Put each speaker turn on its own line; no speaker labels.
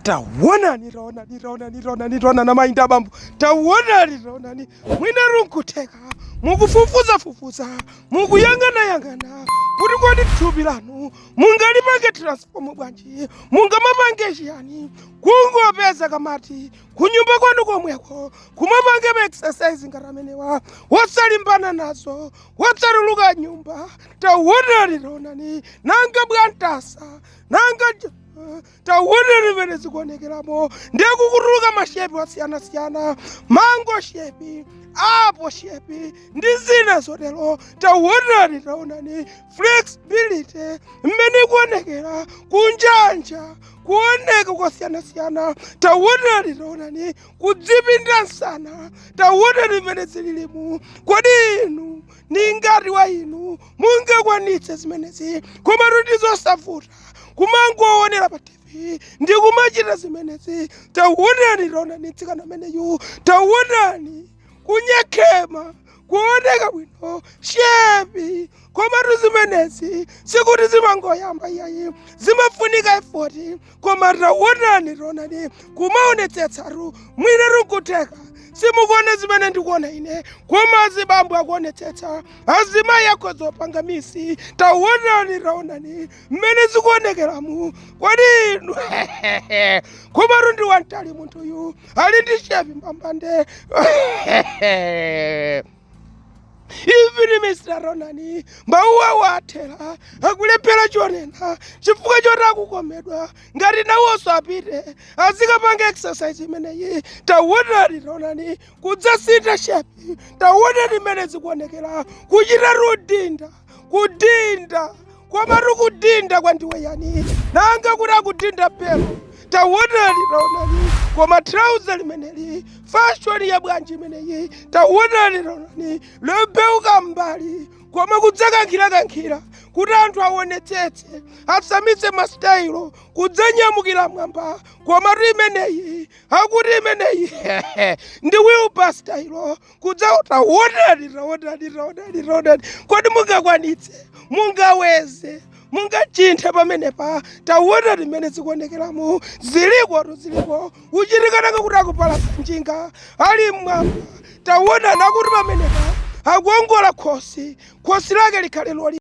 tawonani tawonani tawonani tawonani tawonani amayi ndi abambo tawonani tawonani mwinatu nkutheka mukufufuza fufuza mukuyang'ana yang'ana kuti kodi thupi lanu mungalipange transform bwanji mungamapange chiyani kungopeza kamati kunyumba kwanu komweko kumapange ma exercise ngati amenewa wosalimbana nazo wosatuluka m'nyumba tawonani tawonani nanga bwantasa nanga tawonani mmene zikuonekeramo nde akukutuluka mashepi wasiyanasiyana mango shepi apo shepi ndi zina zotero tawonani tawonani flexibility mmene ikuonekera kunjanja kuoneka kwasiyanasiyana tawonani tawonani kudzipinda msana tawonani mmene zililimu kodi inu ni ngati wa inu mungakwanitse zimenezi koma tu ndi zosavuta kumangowonera pa tv ndi kumachita zimenezi tawonani taonani mtsikana ameneyu tawonani kunyekhema kuoneka bwino shepi komatu zimenezi sikuti zimangoyamba iyayi zimafunika efoti koma tawonani taonani kumaonetsetsatu mwinatu nkutheka simukuona zimene ndikuona ine koma azibambo akuonetsetsa azimayi akhoza kupanga miss taonani taonani mmene zikuonekeramu kodi inu komatu ndi wamtali munthuyu ali ndi shepi mbambande even mr taonani mawu awo athera akulephera chonena chifukwa choti akukomedwa ngati nawonso apite azikapanga exercise imeneyi taonani taonani kudzasintha shepi tawonani mmene zikuonekera kuchita kudinda kudinda komatu kudinda kwandiwe yani nanga kuti akudinda pelo tawonani taonani koma trauza limeneli fashoni ya bwanji imeneyi tawonani taonani tembenuka mbali koma kudzakankhirakankhira kuti anthu awonetsetse asamitse masitayilo kudzanyamukira mmwamba komatu imeneyi akuti imeneyi ndi wilibala style kudza taonani taonani taonani taonani kodi mungakwanitse mungaweze mungachinthe pamenepa tawonani mmene zikuonekeramo zilikotu ziliko uchitika nanga kuti akupalasa njinga ali mmwamba tawonani akuti pamenepa akuongola khosi khosi lake likhale loli